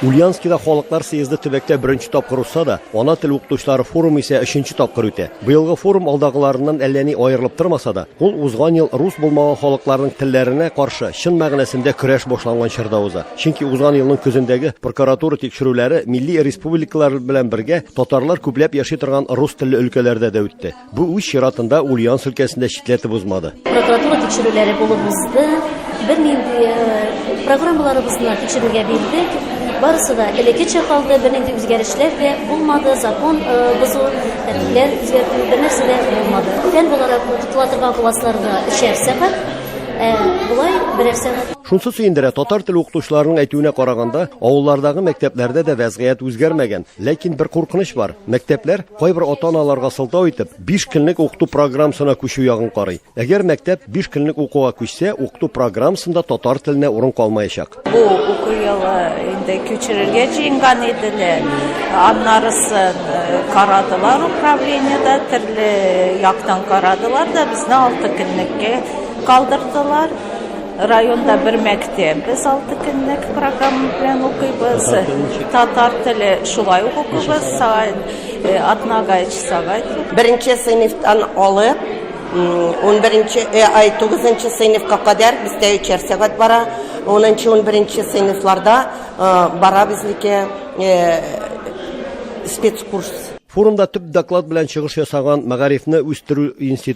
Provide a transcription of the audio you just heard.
Ульянскида халыклар съезды төбәктә беренче тапкыр узса да, ана тел укытучылары форумы исә өченче тапкыр үтә. Быелгы форум алдагыларыннан әллә ни аерылып тормаса да, ул узган ел рус булмаган халыкларның телләренә каршы чын мәгънәсендә көрәш башланган чорда уза. Чөнки узган елның көзендәге прокуратура тикшерүләре милли республикалар белән бергә татарлар күпләп яши торган рус телле өлкәләрдә дә үтте. Бу үз чиратында Ульяновск өлкәсен дә читләтеп узмады. Прокуратура тикшерүләре булып узды. Бернинди э, программаларыбызны тикшерүгә бирдек. Барысы да элеккечә калды, бернинди үзгәрешләр дә булмады, закон э, бозу, тәртипләр үзгәртү, бернәрсә дә булмады. Тән буларак тотыла торган классларда өчәр сәгать, Э, болай берәр сәгать Шунсы сөендерә, татар теле укытучыларының әйтүенә караганда, авыллардагы мәктәпләрдә дә вәзгыять үзгәрмәгән. Ләкин бер куркыныч бар. Мәктәпләр Кайбер ата-аналарга сылтау итеп, 5 көнлек укыту программасына күчү ягын карый. Әгәр мәктәп 5 көнлек укуга күчсә, укыту программасында татар теленә урын калмаячак. Бу уку елы инде күчерергә җыенган иделәр. Аннарысын э, карадылар управлениедә, төрле яктан карадылар да безне 6 көнлеккә калдырдылар. Районда бер мәктәп, без алты көнлек программа белән укыйбыз. Татар теле шулай ук укыйбыз, сәгать атнага өч сәгать. Беренче сыйныфтан алып, унберенче, ай, тугызынчы сыйныфка кадәр бездә өчәр сәгать бара. Унынчы, унберенче сыйныфларда бара безнеке спецкурс. Форумда төп доклад белән чыгыш ясаган Мәгарифне үстерү институты.